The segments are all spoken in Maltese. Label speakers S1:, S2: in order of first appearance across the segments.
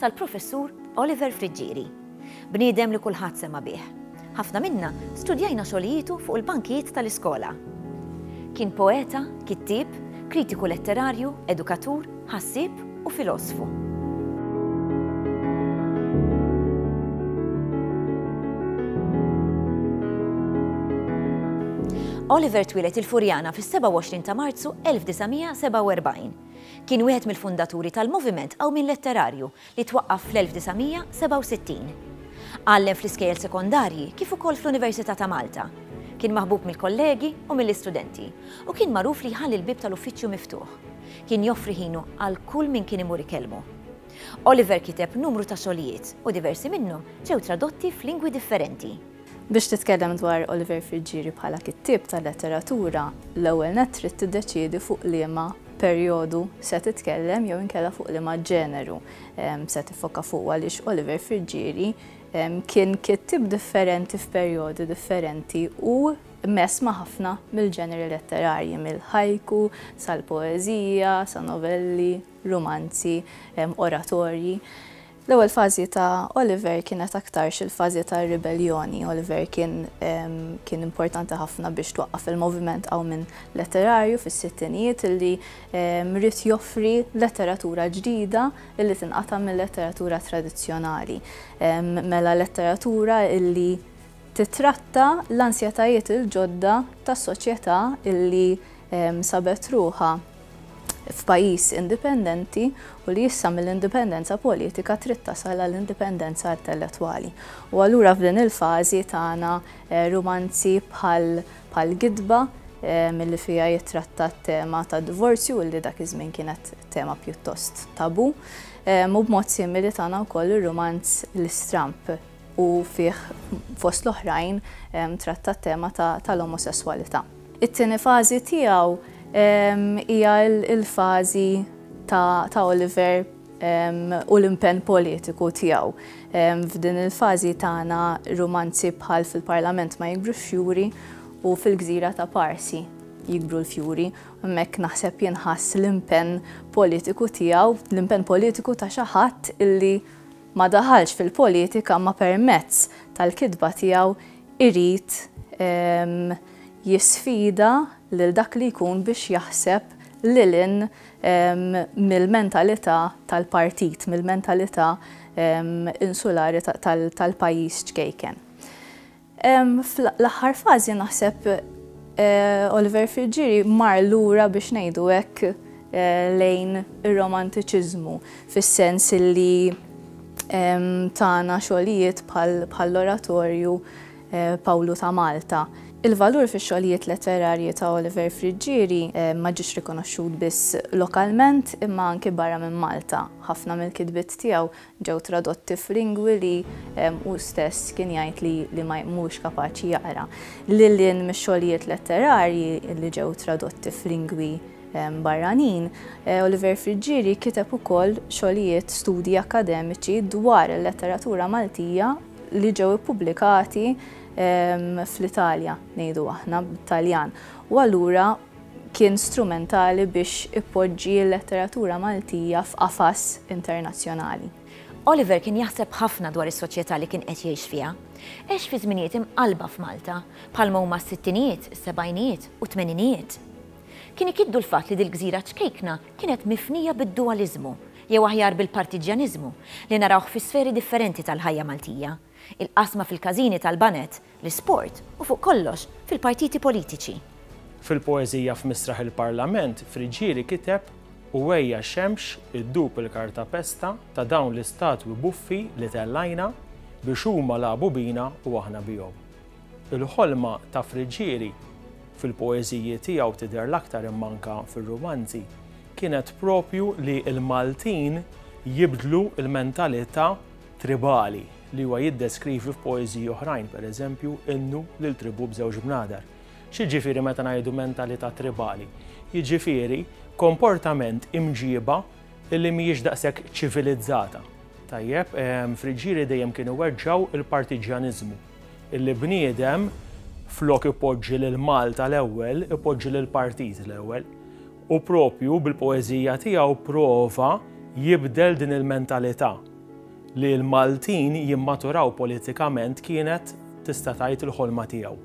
S1: tal-Professur Oliver Friggieri, bniedem li kulħadd sema' bih. Ħafna minna studjajna xogħlijietu fuq il-bankijiet tal-iskola. Kien poeta, kittieb, kritiku letterarju, edukatur, ħassieb u filosfu. Oliver twieled il-Furjana fis-27 ta' Marzu 1947. Kien wieħed mill-fundaturi tal-Moviment Qawmien Letterarju li twaqqaf fl-1967. Għallem fl-iskejjel sekondarji kif ukoll fl-Università ta' Malta. Kien maħbub mill-kollegi u mill-istudenti u kien magħruf li jħalli l-bieb tal-uffiċċju miftuħ. Kien joffri ħinu għal kull min kien imur ikellmu. Oliver kiteb numru ta' xogħlijiet u diversi minnhom ġew tradotti f'lingwi differenti. Biex titkellem dwar Oliver Friggieri bħala kittieb ta' letteratura, l-ewwel nett trid tiddeċiedi fuq liema perjodu se titkellem jew inkella fuq liema ġeneru se tiffoka fuqu għaliex Oliver Friggieri kien kittieb differenti f'perjodi differenti u mess ma' ħafna mill-ġeneri letterarji, mill-haiku sal-poeżija, sa novelli, rumanzi, oratorji. L-ewwel fażi ta' Oliver kienet aktarx il-fażi ta' ribelljoni. Oliver kien kien importanti ħafna biex twaqqaf il-moviment qawmien letterarju fis-sittinijiet illi ried joffri letteratura ġdida illi tinqata' mil-letteratura tradizzjonali. Mela letteratura illi titratta l-ansjetajiet il-ġodda tas-soċjetà illi sabet ruħha. f'pajjiż indipendenti u li issa mill-indipendenza politika trid tasal għal indipendenza intellettwali. U allura f'din il-fażi tagħna rumanzi bħal bħal Gidba milli fiha jittratta t-tema tad-divorzju u li dak iż-żmien kienet tema pjuttost tabu. Mu b'mod simili tagħna wkoll ir-rumanz L-Istramp u fih fost l-oħrajn tratta t-tema tal-omosesswalità. It-tieni fażi tiegħu hija l-fażi ta' Oliver u l-impenn politiku tiegħu. F'din il-fażi tana rumanzi bħal Fil-Parlament ma jikbru x-xjuri u Fil-Gżira ta' Parsi jikbru l-fjuri. Hemmhekk naħseb jinħass l-impenn politiku tiegħu, l-impenn politiku ta' xi ħadd illi, ma daħalx fil-politika ma permezz tal-kitba tiegħu irid jisfida lil dak li jkun biex jaħseb lil hinn mill-mentalità tal-partit, mill-mentalità insulari tal-pajjiż ċkejken. Fl-aħħar fażi naħseb Oliver Friggieri mar lura biex ngħidu hekk lejn ir-Romantiċiżmu fis-sens li tana xogħlijiet bħall-oratorju Pawlu ta' Malta. Il-valur fix-xogħlijiet letterarji ta' Oliver Friggieri ma ġiex rikonoxxut biss lokalment imma anki barra minn Malta. Ħafna mill-kitbiet tiegħu Ġew tradotti f'lingwi li hu stess kien jgħid li ma huwiex kapaċi jaqra. Lil hinn mix-xogħlijiet letterarji li ġew tradotti f'lingwi barranin, Oliver Friggieri kiteb ukoll xogħlijiet, studji akkademiċi dwar il-letteratura Maltija li ġew ippubblikati fl-Italja, ngħidu aħna bit-Taljan, u allura, kien strumentali biex ipoġġi l-letteratura Maltija f'qafas internazzjonali. Oliver kien jaħseb ħafna dwar is-soċjetà li kien qed jgħix fiha. Għex fi żminijiet imqallba f'Malta, bħalma huma s-sittinijiet, is-sebgħinijiet u t-tmeninijiet. Kien ikiddu l-fatt li dil-gżira ċkejkna kienet mifnija bid-duwaliżmu, jew aħjar bil-partiġġjaniżmu, li narawh fi sferi differenti tal-ħajja Maltija, il-qasma fil-każini tal-baned, l-isport u fuq kollox, fil-partiti politiċi. Fil-poeżija F'Misraħ il-Parlament, Friggieri kiteb, U ejja xemx iddub il-kartapesta ta' dawn l-istatwi buffi li tellajna biex huma lagħbu bina u aħna bihom. Il-ħolma ta' Friggieri, fil-poeżiji tiegħu tidher l-aktar imma anke fir-rumanzi, kienet proprju li l-Maltin jibdlu l-mentalità tribali li huwa jiddeskrivi f'poeżiji oħrajn, pereżempju, innu lil tribù b'żewġ bnadar. X'jiġifieri meta ngħidu mentalità tribali? Jiġifieri komportament imġiba li mhijiex daqshekk ċivilizzata. Tajjeb, ehm, Friġġieri dejjem kienu weġġaw il-partiġjaniżmu. Illi bniedem flok ipoġġi lil Malta l-ewwel, ipoġġi lill-partit l-ewwel. U proprju bil-poeżija tiegħu prova jibdel din il-mentalità li l-Maltin jimmaturaw politikament kienet tista' tgħid il-ħolma tiegħu.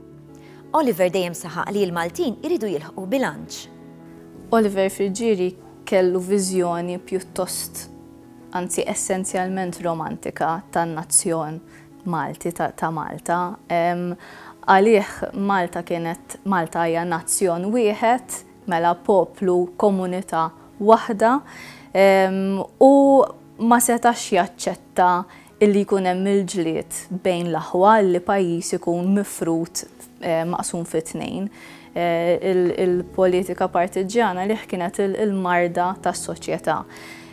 S1: Oliver dejjem saħaq li l-Maltin iridu jilħqu bilanċ. Oliver Friggieri kellu viżjoni pjuttost, anzi essenzjalment romantika tan-nazzjon Malti, ta' Malta. Għalih Malta kienet, Malta hija nazzjon wieħed, Mela poplu, komunità waħda u ma setax jaċċetta illi jkun hemm il-ġlied bejn l-aħwa, illi pajjiż ikun mifrud maqsum fi tnejn. Il-politika partiġġjana lih kienet il-marda tas-soċjetà.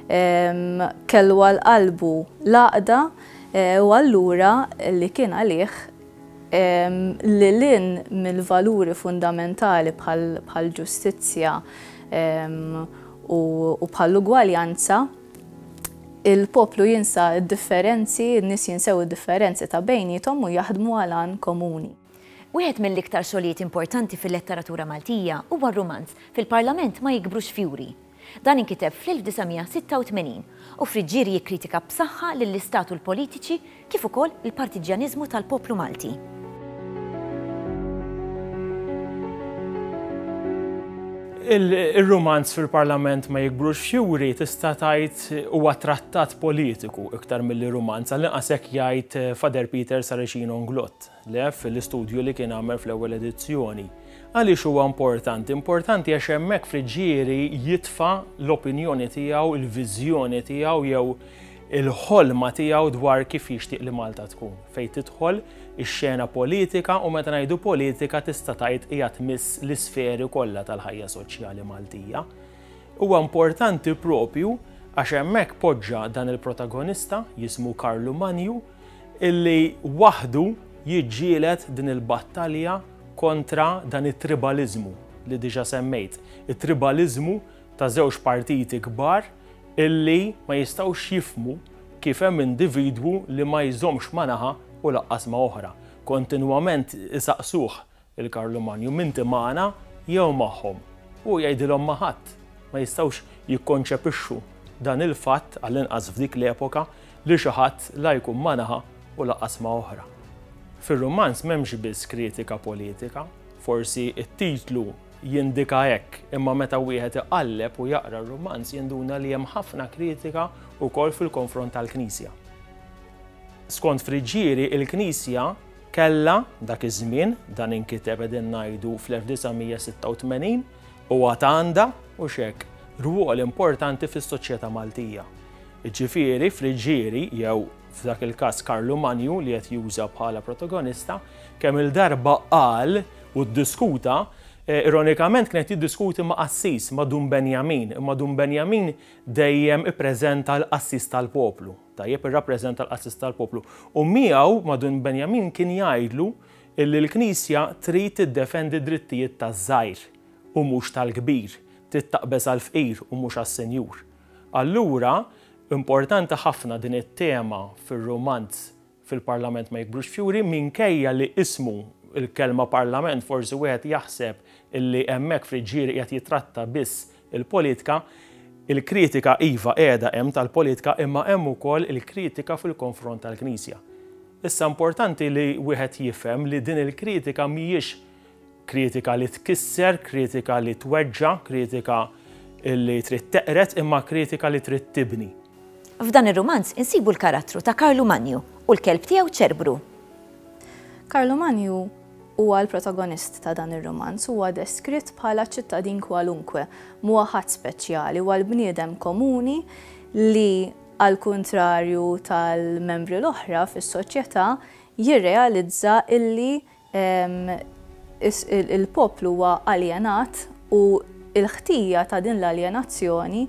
S1: Kellu għal qalbu l-għaqda u allura li kien għalih lil hinn mill-valuri fundamentali bħall-ġustizzja u bħall-ugwaljanza, il-poplu jinsa d-differenzi, in-nies jinsew id-differenzi ta' bejniethom u jaħdmu għal għan komuni. Wieħed mill-iktar xogħlijiet importanti fil-letteratura Maltija huwa r-rumanz, Fil-Parlament ma jikbrux fjuri. Dan inkiteb fl-1986 u f'ried ġieri jikkritika b'saħħa lill-istat u l-politiċi kif ukoll il-partiġġjaniżmu tal-poplu Malti. Ir-rumanz fil-Parlament ma jikbrux fjuri tista' tgħid huwa trattat politiku iktar milli rumanz, għallinqas hekk jgħid Father Peter Saracino Nglott. Lev fil-istudju li kien għamel fl-ewwel edizzjoni. Għaliex huwa importanti? Importanti għax hemmhekk fl-ġieri jitfa' l-opinjoni tiegħu, il-viżjoni tiegħu jew il-ħolma tiegħu dwar kif jixtieq li Malta tkun. Fejn tidħol ix-xena politika u meta ngħidu politika tista' tgħid hija tmiss l-isferi kollha tal-ħajja soċjali Maltija. Huwa importanti propju għax hemmhekk poġġa dan il-protagonista jismu Karlu Manju illi waħdu jiġġieled din il-battalja kontra dan it-tribaliżmu li diġà semmejt, it-tribaliżmu ta' żewġ partiti kbar illi ma jistgħux jifhmu kif hemm individwu li ma jżommx ma' naħa u lanqas ma' oħra. Kontinwament isaqsuh Il-Karlu Manju, M'inti magħna jew magħhom? Hu jgħidilhom ma' ħadd. Ma jistgħux jikkonċepixxu dan il-fatt, għall-inqas f'dik l-epoka, li xi ħadd la jkun ma' naħa u lanqas ma' oħra. Fir-rumanz m'hemmx biss kritika politika, forsi t-titlu jindika hekk, imma meta wieħed iqalleb u jaqra r-rumanz jinduna li hemm ħafna kritika wkoll fil-konfront tal-Knisja. Skont Friggieri, il-Knisja, Kellha, dak iż-żmien, dan inkiteb qegħdin ngħidu fl-1986, u għad għandha, hux hekk, rwol importanti fis-soċjetà Maltija. Jiġifieri, Friggieri, jew, f'dak il-każ, Karlu Manju li qed juża bħala protagonista, kemm-il darba qal u ddiskuta, ironikament kien qed jiddiskuti ma' qassis, ma' Dun Benjamin, imma Dun Benjamin dejjem ippreżenta l-qassis tal-poplu. Tajjeb irrappreżenta l-qassis tal-poplu u miegħu ma' Dun Benjamin kien jgħidlu illi l-Knisja trid tiddefendi d-drittijiet taż-żgħir u mhux tal-kbir, trid taqbeż għall-fqir u mhux għas-senjur. Allura, importanti ħafna din it-tema fir-rumanz fil-Parlament ma jikbrux fjuri minkejja li ismu, il-kelma Parlament forsi wieħed jaħseb illi hemmhekk fl-iġġieri qiegħed jittratta biss il-politka. Il-kritika iva qiegħda hemm tal-politka imma hemm ukoll il-kritika fil-konfront tal-Knisja. Issa importanti li wieħed jifhem li din il-kritika mhijiex Kritika li tkisser, kritika li tweġġa', kritika li trid teqred imma kritika li trid tibni. F'dan ir-rumanz insibu l-karattru ta' Karlu Manju u l-kelb tiegħu Ċerbru. Karlu Manju huwa l-protagonist ta' dan ir-rumanz, huwa deskritt bħala ċittadin kwalunkwe, mhuwa ħadd speċjali, huwa l-bniedem komuni li għal kuntrarju tal-membri l-oħra fis-soċjetà jirrealizza illi Il-poplu huwa aljenat u l-ħtija ta' din l-aljenazzjoni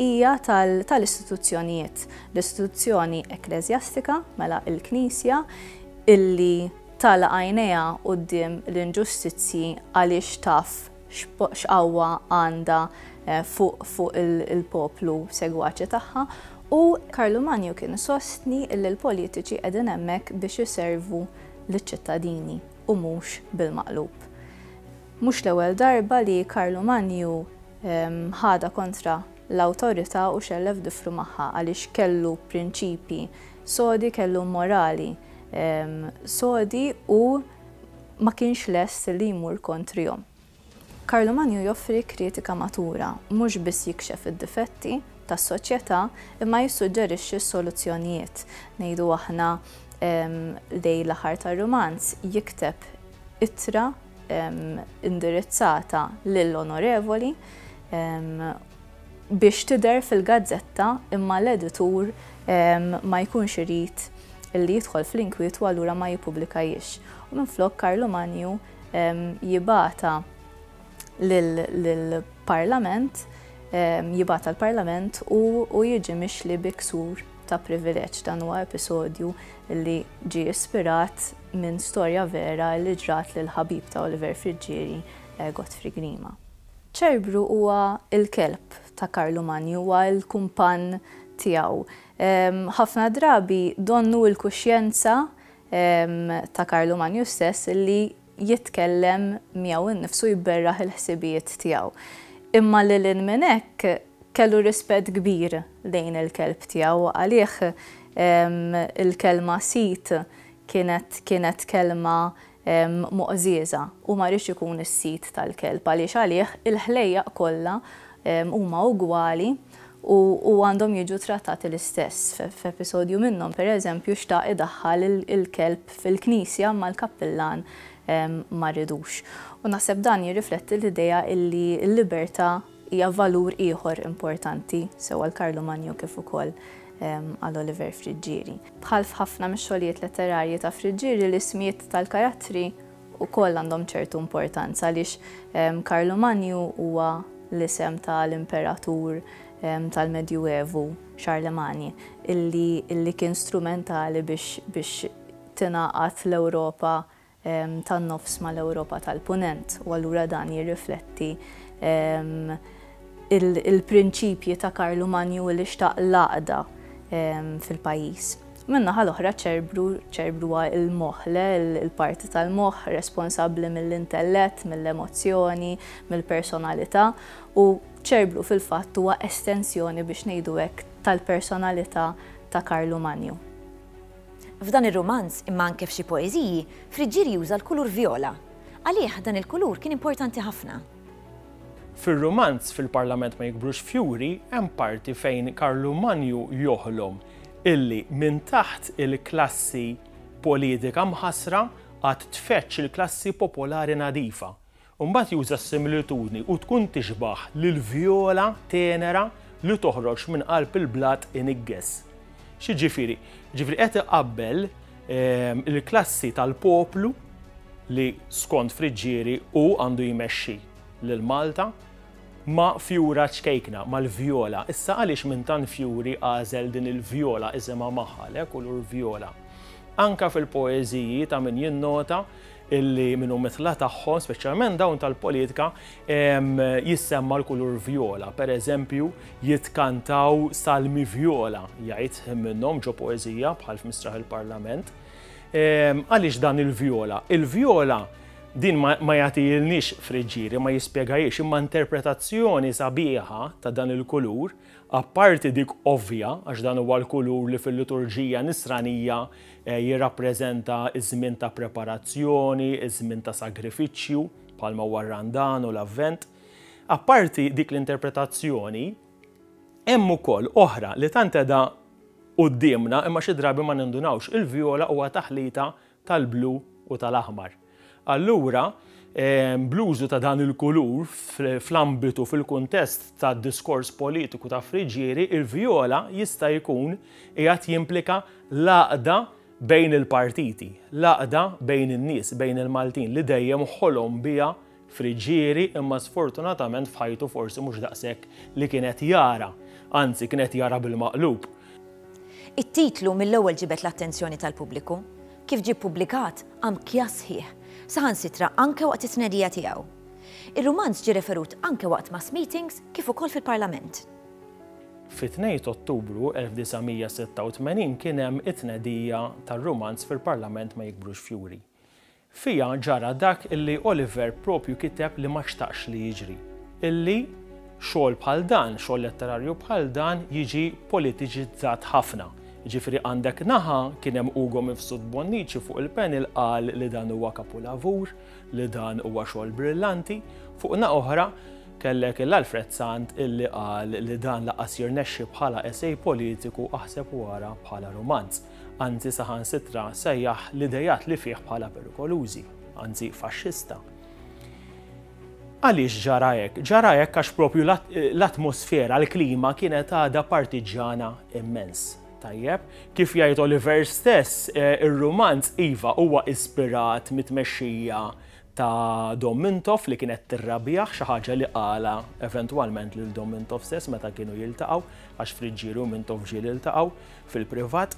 S1: hija tal-istituzzjonijiet. L-istituzzjoni ekkleżjastika, mela l-Knisja, illi tagħlaq għajnejha quddiem l-inġustizzji għaliex taf x'qawwa għandha fuq il-poplu segwaċi tagħha u Karlu Manju kien isostni illi l-politiċi qegħdin hemmhekk biex iservu liċ-ċittadini u mhux bil-maqlub. Mhux l-ewwel darba li Karlu Manju ħadha kontra l-awtorità u xellef difru magħha għaliex kellu prinċipji sodi, kellu morali sodi u ma kienx lest li jmur kontrihom. Karlu Manju joffri kritika matura, mhux biss jikxef id-difetti tas-soċjetà imma jissuġġerixxi s-soluzzjonijiet. Ngħidu aħna lejn l-aħħar tar-rumanz jikteb ittra indirizzata lil Onorevoli biex tidher fil-gazzetta imma l-editur ma jkunx irid li jidħol fl-inkwietu allura ma jippubblikahiex u minflok Karlu Manju jibgħatha lill-Parlament, jibgħatha l-Parlament u jiġi mixli bi ksur ta' privileġġ. Dan huwa episodju li ġie ispirat minn storja vera li ġrat lill-ħabib ta' Oliver Friggieri, Godfrey Grima. Ċerbru huwa l-kelb ta' Karlu Manju, huwa l-kumpann tiegħu. Ħafna drabi donnu l-kuxjenza ta' Karlu Manju stess li jitkellem miegħu nnifsu jberraħ il-ħsibijiet tiegħu. Imma lil hinn minn hekk kellu rispett kbir lejn il-kelb tiegħu u għalih il-kelma sid kienet kienet kelma moqżieża. Hu ma riedx ikun is-sid tal-kelb għaliex għalih il-ħlejjaq kollha huma ugwali. u u għandhom jiġu trattati l-istess. F'episodju minnhom, per eżempju, xtaq idaħħal il-kelb fil-knisja imma l-kappillan ma ridux. U naħseb dan jirrifletti l-idea illi l-libertà hija valur ieħor importanti sew għal Karlu Manjo kif ukoll għal Oliver Friggieri. Bħal f'ħafna mix-xogħlijiet letterarji ta' Friggieri l-ismijiet tal-karattri ukoll għandhom ċertu importanza għaliex Karlu Manju huwa l-isem ta' l-imperatur tal-Medjuevu, Charlemagne, illi illi kien strumentali biex biex tingħaqad l-Ewropa tan-Nofs ma' l-Ewropa tal-Punent u allura dan jirrifletti il-prinċipji ta' Karlu Manju li xtaq l-għaqda fil-pajjiż. Min-naħa l-oħra ċ-ċerbru, ċ-ċerbru huwa l-moħħ, le, il-parti tal-moħħ responsabbli mill-intellett, mill-emozzjoni, mill-personalità, u ċ-ċerbru fil-fatt huwa estensjoni biex ngħidu hekk tal-personalità ta' Karlu Manju. F'dan ir-rumanz, imma anke f'xi poeżiji, Friggieri juża l-kulur vjola. Għalih dan il-kulur kien importanti ħafna. Fir-rumanz Fil-Parlament ma jikbrux fjuri hemm parti fejn Karlu Manju joħlom illi minn taħt il-klassi politika mħassra għad tfeġġ il-klassi popolari nadifa. U mbagħad juża s-similitudni u tkun tixbah lill-vjola tenera li toħroġ minn qalb il-blat inigges. X'jiġifieri? Jiġifieri qed iqabbel Il-klassi tal-poplu li skont Friġġieri hu għandu jmexxi lil Malta ma' fjura ċkejkna, mal-vjola. Issa għaliex minn tant fjuri għażel din il-vjola isimha Maħalek u lur vjola? Anke fil-poeżiji ta' min jinnota illi minn umitla tagħhom, speċjalment dawn tal-politika, jissemma l-kulur vjola. Per eżempju, jitkantaw salmi vjola, jgħid minnhom ġo poezija bħal f'Mistraħ il-Parlament. Għaliex dan il-vjola? Il-vjola din ma jagħtilniex friġġieri, ma jispjegajiex imma interpretazzjoni sabiħa ta' dan il-kulur Apparti dik ovvja, għax dan huwa l-kulur li fil-liturġija Nisranija jirrappreżenta ż-żmien ta' preparazzjoni, iż-żmien ta' sagrifiċċju, bħalma huwa r-Randan u l-Avvent, apparti dik l-interpretazzjoni, hemm ukoll oħra li tant qiegħda quddiemna imma xi drabi ma nindunawx. Il-vjola huwa taħlita tal-blu u tal-aħmar. Allura, bl-użu ta' dan il-kulur fl-ambitu, fil-kuntest ta' diskors politiku ta' friġieri, il-vjola jista' jkun qiegħed jimplika l-għaqda bejn il-partiti, l-għaqda bejn in-nies, bejn il-Maltin li dejjem ħolom biha friġġieri imma sfortunatament f'ħajtu forsi mhux daqshekk li kien qed jara, anzi kien qed jara bil-maqlub. It-titlu mill-ewwel ġibed l-attenzjoni tal-pubbliku. Kif ġie ppubblikat, qam kjass sħiħ, saħansitra anke waqt it-tnedija tiegħu. Ir-rumanz ġie referut anke waqt mass meetings kif ukoll fil-Parlament. Fit-2 t'Ottubru 1986 kien hemm it-tnedija tar-rumanz fil-Parlament Ma Jikbrux Fjuri. Fiha ġara dak illi Oliver propju kiteb li ma xtaqx li jiġri, illi xogħol bħal dan, xogħol letterarju bħal dan jiġi politiċizzat ħafna. Jiġifieri għandek naħa kien hemm Ugo Mifsud Bonnici fuq il-panel qal li dan huwa kapulavur, li dan huwa xogħol brillanti, fuq naħa oħra kellek il Alfred Sant illi qal li dan lanqas jirnexxi bħala essay politiku aħseb u ara bħala rumanz. anzi saħansitra sejjaħ l-idejat li fih bħala perikolużi, anzi faxxista. Għaliex ġara hekk? Ġara hekk għax propju l-atmosfera, l-klima kienet għadha partiġġana immens. Tajjeb, kif jgħid Oliver stess, eh, ir-rumanz iva huwa ispirat mit-tmexxija ta' Dom Mintoff li kienet tirrabjah, xi ħaġa li qalha eventwalment lil Dom Mintoff stess meta kienu jiltaqgħu, għax Friggieri u Mintoff ġieli ltaqgħu fil-privat.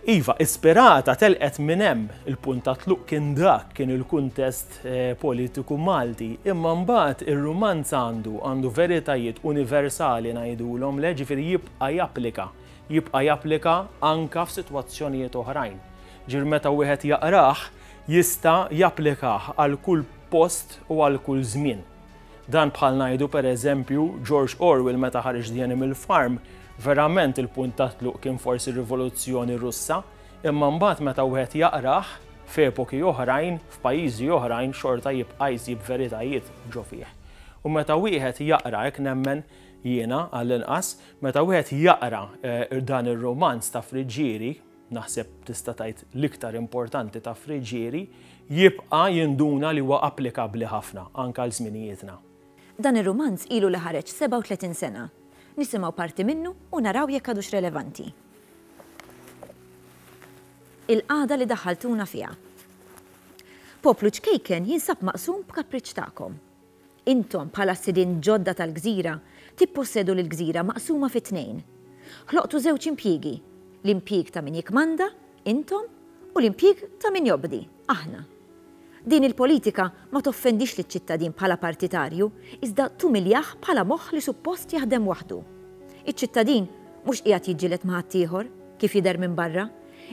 S1: Iva, ispirata, telqet minn hemm, il-punt ta' tluq kien dak, kien il-kuntest eh, politiku Malti, imma mbagħad ir-rumanz għandu għandu veritajiet universali ngħidulhom le, ġifieri jibqa' japplika, jibqa' japplika anka f'sitwazzjonijiet oħrajn. Ġir meta wieħed jaqrah, jista' japplikah għal kull post u għal kull żmien. Dan bħal ngħidu per eżempju George Orwell meta ħareġ The Animal Farm, verament il-punt tat-tluq kien forsi r-Rivoluzzjoni Russa, imma mbagħad meta wieħed jaqrah, f'epoki oħrajn, f'pajjiżi oħrajn xorta jibqa' jsib veritajiet ġo fih. U meta wieħed jaqra, hekk nemmen jiena għallinqas, meta wieħed jaqra dan ir-rumanz ta' Friggieri, naħseb tista' tgħid l-iktar importanti ta' Friggieri, jibqa' jinduna li huwa applikabbli ħafna anke għal żminijietna. Dan ir-rumanz ilu li ħareġ 37 sena. Nisimgħu parti minnu u naraw jekk għadux relevanti. Il-qagħda li daħħaltuna fiha. Poplu ċkejken jinsab maqsum b'kapriċċ tagħkom. Intom, bħala s-sidien ġodda tal-gżira, tippossedu l-gżira maqsuma fi tnejn. Ħloqtu żewġ impjiegi, l-impjieg ta' min jikkmanda, intom, u l-impjieg ta' min jobdi, aħna. Din il-politika ma toffendix liċ-ċittadin bħala partitarju, iżda tumiljah bħala moħħ li suppost jaħdem waħdu. Iċ-ċittadin mhux qiegħed jiġġieled ma' ħaddieħor, kif jidher minn barra,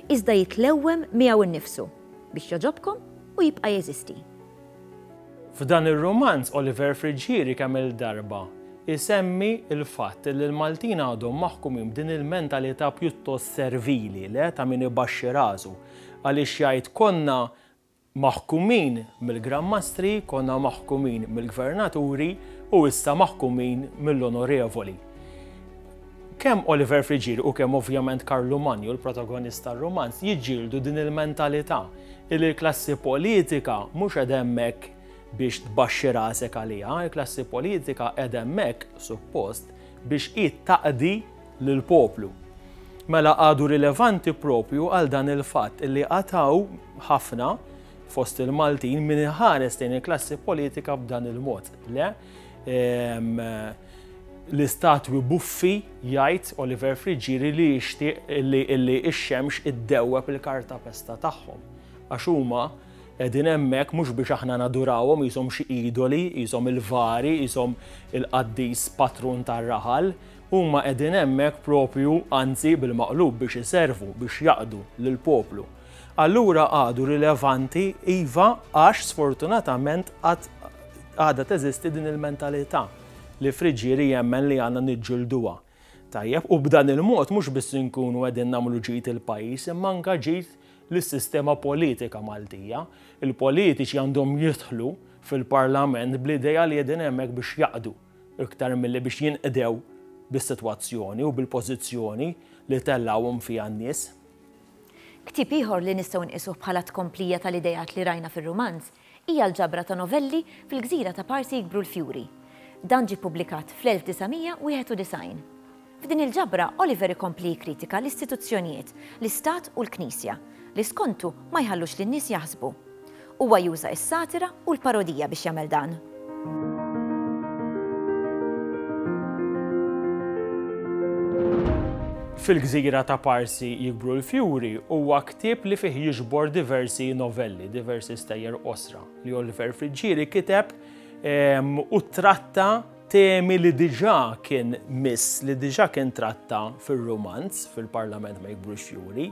S1: iżda jitlewwem miegħu nnifsu, biex jogħġobkom u jibqa' jeżisti. F'dan ir-rumanz Oliver Friggieri kemm-il darba jsemmi l-fatt li l-Maltin għadhom maħkumin b'din il-mentalità pjuttost servili, le, ta' min ibaxxi rasu. Għaliex jgħid konna maħkumin mill-Gran Mastri, konna maħkumin mill-Gvernaturi u issa maħkumin mill-Onorevoli. Kemm Oliver Friggieri u kemm ovvjament Karlu Manju, l-protagonist tar-rumanz, jiġġieldu din il-mentalità illi l-klassi politika mhux qiegħda hemmhekk biex tbaxxi rasek għaliha, il-klassi politika qiegħda hemmhekk, suppost, biex hi taqdi lill-poplu. Mela għadu rilevanti proprju għal dan il-fatt illi għad hawn ħafna fost il-Maltin min iħares lejn il-klassi politika b'dan il-mod. Le, L-istatwi buffi jgħid Oliver Friggieri li jixtieq illi x-xemx iddewweb il-kartapesta tagħhom għax huma qegħdin hemmhekk mhux biex aħna nadurawhom qishom xi idoli, qishom il-vari, qishom il-qaddis patrun tar-raħal, huma qegħdin hemmhekk proprju anzi bil-maqlub biex iservu, biex jaqdu lill-poplu. Allura għadu rilevanti, iva, għax sfortunatament għad għadha teżisti din il-mentalità li Friġieri jemmen li għandna niġġilduha. Tajjeb, u b'dan il-mod mhux biss inkunu qegħdin nagħmlu ġid il-pajjiż imma anke ġid lis-sistema politika Maltija. Il-politiċi għandhom jidħlu fil-Parlament bl-idea li qegħdin hemmhekk biex jaqdu iktar milli biex jinqdew bis-sitwazzjoni u bil-pożizzjoni li tellgħuhom fiha n-nies. Ktieb ieħor li nistgħu nqisuh bħala tkomplija tal-ideat li rajna fir-rumanz hija l-ġabra ta' novelli Fil-gżira ta' Parsi jikbru l-fjuri. Dan ġie ppubblikat fl-1991. F'din il-ġabra, Oliver ikompli jikkritika l-istituzzjonijiet, l-istat u l-Knisja, li skontu ma jħallux lin-nies jaħsbu. Huwa juża s-satira u l-parodija biex jagħmel dan. Fil-gżira ta' Parsi jikbru l-fjuri huwa ktieb li fih jiġbor diversi novelli, diversi stejjer qosra li Oliver Friggieri kiteb ehm, u tratta temi li diġa kien miss, li diġa kien tratta fil-romanz, fil-parlament ma jikbrux juri,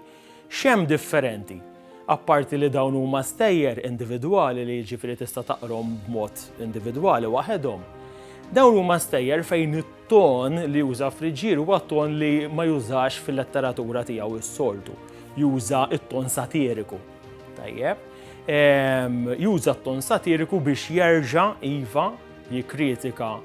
S1: X'hemm differenti? Apparti li dawn huma stejjer individwali li jiġifieri tista' taqrhom b'mod individwali waħedhom, dawn huma stejjer fejn it-ton li juża Friġġier huwa ton li ma jużax fil-letteratura tiegħu is-soltu. Juża t-ton satiriku. Tajjeb. Ehm, juża t-ton satiriku biex jerġa' iva jikkritika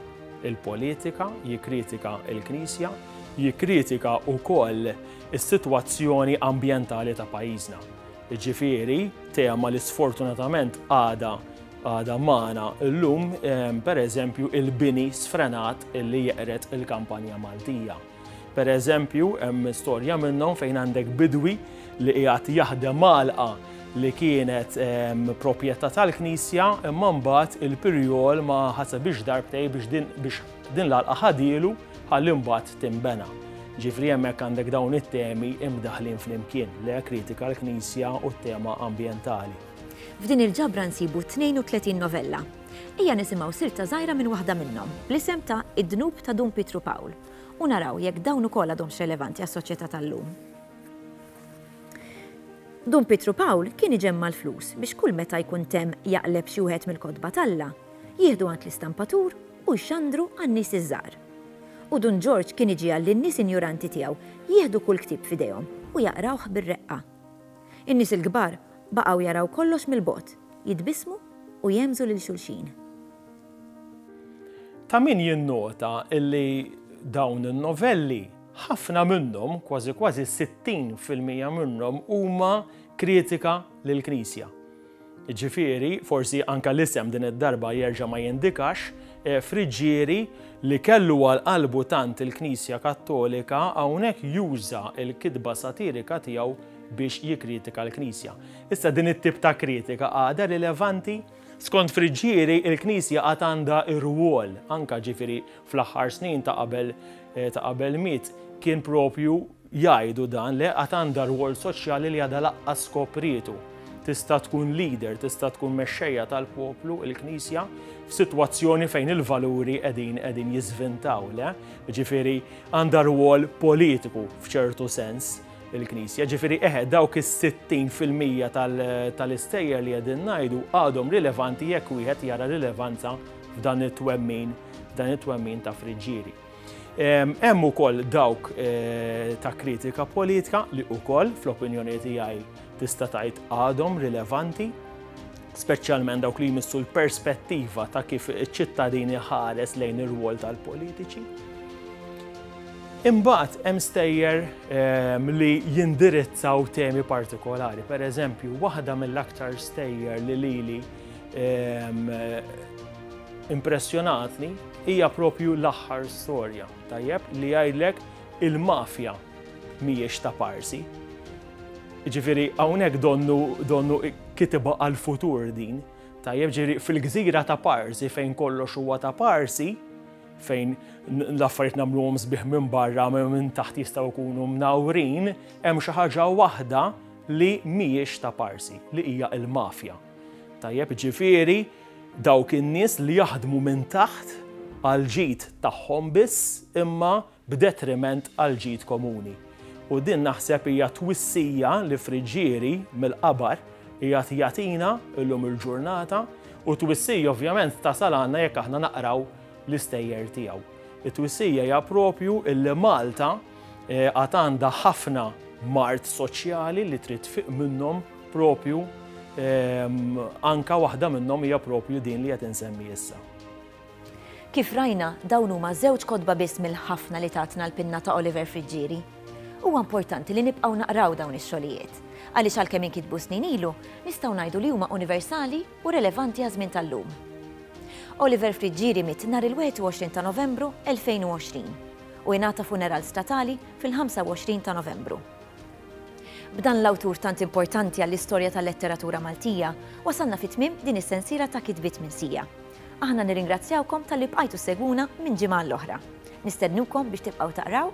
S1: il-politika, jikkritika il-Knisja, jikkritika wkoll is-sitwazzjoni ambjentali ta' pajjiżna. Jiġifieri, tema li sfortunatament għadha għadha magħna llum, ehm, pereżempju il-bini sfrenat li jeqred il-kampanja Maltija. Pereżempju, hemm storja minnhom fejn għandek bidwi li qiegħed jaħdem malqa li kienet proprjetà tal-Knisja imma mbagħad il-pirjol ma ħasebix darbtej biex din biex Din l-għalqa ħadielu ħalli mbagħad tinbena. Ġifieri hemmhekk għandek dawn it-temi imdaħħlin flimkien, le kritika l-Knisja u t-tema ambjentali. F'din il-ġabra nsibu 32 novella. Ejja nisimgħu silta żgħira minn waħda minnhom, bl-isem ta' Id-Dnub ta' Dun Pietru Pawl, u naraw jekk dawn ukoll għadhomx relevanti għas-soċjetà tal-lum. Dun Pietru Pawl kien iġemma' l-flus biex kull meta jkun temm jaqleb xi wieħed mill-kotba t'Alla, jieħdu għand l-istampatur u jxandru għan-nies iż-żgħar. U Dun Ġorġ kien iġiegħel lin-nies injoranti tiegħu jieħdu kull ktieb f'idejhom u jaqrawh bir-reqqa. In-nies il-kbar baqgħu jaraw kollox mill-bogħod, jitbissmu u jghemmżu lil xulxin. Ta' min jinnota li dawn in-novelli, ħafna minnhom, kważi kważi sittin fil-mija minnhom huma kritika lill-Knisja. Jiġifieri, forsi anke l-isem din id-darba jerġa' ma jindikax, Friggieri, li kellu għal qalbu tant il-Knisja Kattolika, hawnhekk juża l-kitba satirika tiegħu biex jikkritika l-Knisja. Issa din it-tip ta' kritika għadha rilevanti? Skont Friggieri, il-Knisja għad għandha rwol, anke ġifieri fl-aħħar snin ta' qabel ta' qabel miet, kien proprju Jgħidu dan, le, għad għandha rwol soċjali li għadha laqqas skoprietu. Tista' tkun leader, tista' tkun mexxejja tal-poplu, il-Knisja, f'sitwazzjoni fejn il-valuri qegħdin qegħdin jiżvintaw, le? Ġifieri għandha rwol politiku f'ċertu sens il-Knisja. Ġifieri eħe dawk is-60 fil-mija tal-istejjer li qegħdin ngħidu għadhom rilevanti jekk wieħed jara rilevanza f'dan it-twemmin, f'dan it-twemmin ta' Friġġieri. Hemm ukoll dawk ta' kritika politika li ukoll fl-opinjoni tiegħi tista' tgħid għadhom rilevanti, speċjalment dawk li jmissu l-perspettiva ta' kif iċ-ċittadini ħares lejn ir-rwol tal-politiċi. Imbagħad hemm stejjer ehm, li jindirizzaw temi partikolari. Per eżempju, waħda mill-aktar stejjer li lili ehm, impressjonatni hija proprju l-aħħar storja, tajjeb, li jgħidlek il-mafja mhijiex ta' parsi. Ġifieri hawnhekk donnu donnu kitibha għall-futur din, tajjeb ġifieri fil-gżira ta' parsi fejn kollox huwa ta' parsi, fejn l-affarijiet nagħmluhom sbieħ minn barra minn taħt jistgħu jkunu mnawrin, hemm xi ħaġa waħda li mhijiex ta' parsi, li hija l-mafja. Tajjeb ġifieri Dawk in-nies li jaħdmu minn taħt għall-ġid tagħhom biss imma b'detriment għall-ġid komuni. U din naħseb hija twissija li Friggieri mill-qabar qiegħed jagħtina llum il-ġurnata u twissija ovvjament tasal għandna jekk aħna naqraw l-istejjer tiegħu. It-twissija hija proprju illi Malta Għad għandha ħafna mard soċjali li trid tfiq minnhom propju anka waħda minnhom hija propju din li qed insemmi issa. Kif rajna, dawn huma żewġ kotba biss mill-ħafna li tatna l-pinna ta' Oliver Friggieri. Huwa importanti li nibqgħu naqraw dawn ix-xogħlijiet, għaliex għalkemm inkitbu snin ilu, nistgħu ngħidu li huma universali u relevanti għaż-żmien tal-lum. Oliver Friggieri miet nhar il-21 ta' Novembru 2020 u ingħata funeral statali fil-25 ta' Novembru. B'dan l-awtur tant importanti għall-istorja tal-letteratura Maltija, wasalna fi tmiem din is-sensiela ta' kitbiet minn sija. Aħna nirringrazzjawkom talli bqajtu ssegwuna minn ġimgħa għall-oħra. Nistednukom biex tibqgħu taqraw